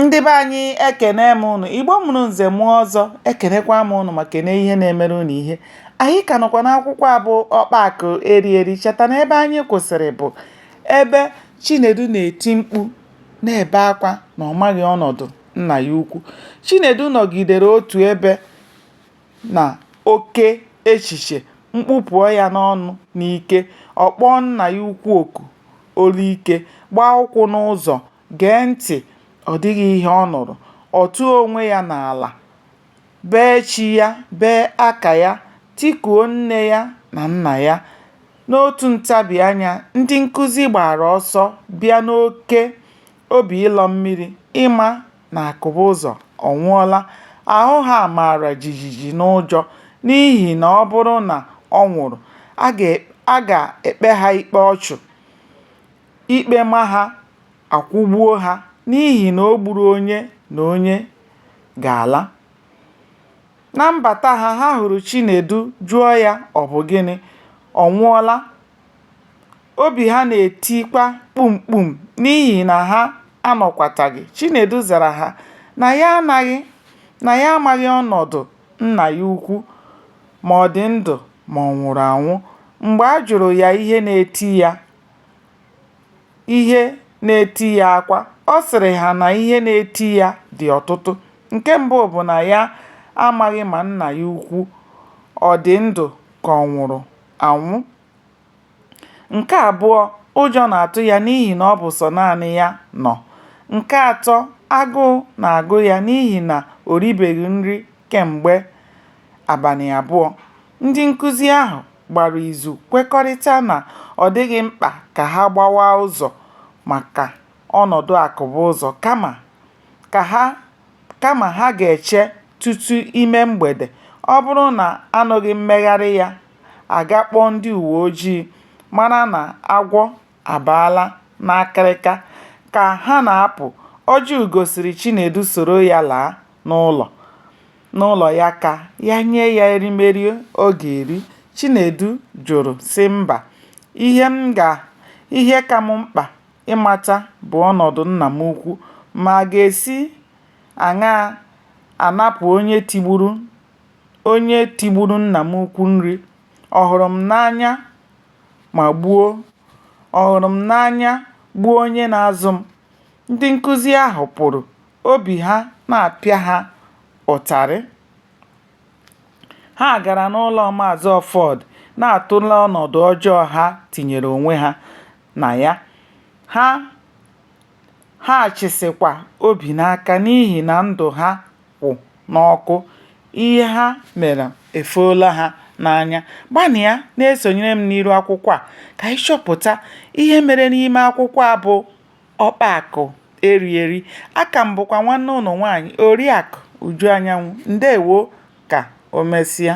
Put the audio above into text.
ndị be anyị ekene m ụnụ igbo mụrụ nze mụọ ọzọ ekenekwa m ụnụ ma kene ihe na-emere ụnụ ihe anyị ka nọkwa n'akwụkwọ a bụ ọkpa akụ eri eri cheta na ebe anyị kwụsịrị bụ ebe chinedu na-eti mkpu na-ebe akwa na ọ maghị ọnọdụ nna ya ukwu chinedu nọgidere otu ebe na oke echiche mkpu pụọ ya n'ọnụ n'ike ọ kpọọ nna ya ukwu oku olu ike gbaa ụkwụ n'ụzọ Gee ntị! Ọ dịghị ihe ọ nụrụ. Ọ tụọ onwe ya n'ala, bee chi ya, bee aka ya, tikuo nne ya na nna ya. N'otu ntabi anya, ndị nkụzi gbaara ọsọ bịa n'oke obi ịlọ mmiri ịma na Akụbụzọ ọ nwụọla. Ahụ ha mara jijiji n'ụjọ n'ihi na ọ bụrụ na ọ nwụrụ, a ga-ekpe ha ikpe ọchụ. Ikpe ma ha, a kwụgbuo ha n'ihi na o gburu onye na onye ga-ala. Na mbata ha, ha hụrụ Chinedu jụọ ya ọ bụ gịnị, ọ nwụọla? Obi ha na-etikwa kpum kpum n'ihi na ha anọkwataghị. Chinedu zara ha na ya anaghị, na ya amaghị ọnọdụ nna ya ukwu, ma ọ dị ndụ ma ọ nwụrụ anwụ. Mgbe a jụrụ ya ihe na-eti ya, ihe na-eti ya akwa. Ọ sịrị ha na ihe na-eti ya dị ọtụtụ. Nke mbụ bụ na ya amaghị ma nna ya ukwu ọ dị ndụ ka ọ nwụrụ anwụ. Nke abụọ, ụjọ na-atụ ya n'ihi na ọ bụ sọ naanị ya nọ. Nke atọ, agụụ na-agụ ya n'ihi na o ribeghị nri kemgbe abalị abụọ. Ndị nkụzi ahụ gbara izu kwekọrịta na ọ dịghị mkpa ka ha gbawa ụzọ maka ọnọdụ akụbụzọ kama ka ha kama ha ga-eche tutu ime mgbede, ọ bụrụ na a nụghị mmegharị ya, a ga-akpọ ndị uwe ojii mara na agwọ abaala n'akịrịka ka ha na-apụ, Ojiugo sịrị Chinedu soro ya laa n'ụlọ n'ụlọ ya ka ya nye ya erimeri ọ ga-eri. Chinedu jụrụ sị mba, ihe m ga ihe ka m mkpa ịmata bụ ọnọdụ nna m ukwu ma a ga-esi aṅaa anapụ onye onye tigburu nna m ukwu nri, ọ hụrụ m n'anya? ma gbuo, ọ hụrụ m n'anya gbuo onye na-azụ m. Ndị nkụzi ahụ pụrụ, obi ha na-apịa ha ụtarị. Ha gara n'ụlọ Maazị Ọfọd na-atụle ọnọdụ ọjọọ ha tinyere onwe ha na ya. Ha Ha chịsịkwa obi n'aka n'ihi na ndụ ha kwụ n'ọkụ, ihe ha mere efoola ha n'anya. Gbalịa na-esonyere m n'iru akwụkwọ a ka anyị chọpụta ihe mere n'ime akwụkwọ a bụ Ọkpa Akụ Eri Eri. Aka m bụkwa nwanne ụnụ nwaanyị Oriakụ Uju Anyanwụ. Ndewo ka o mesịa.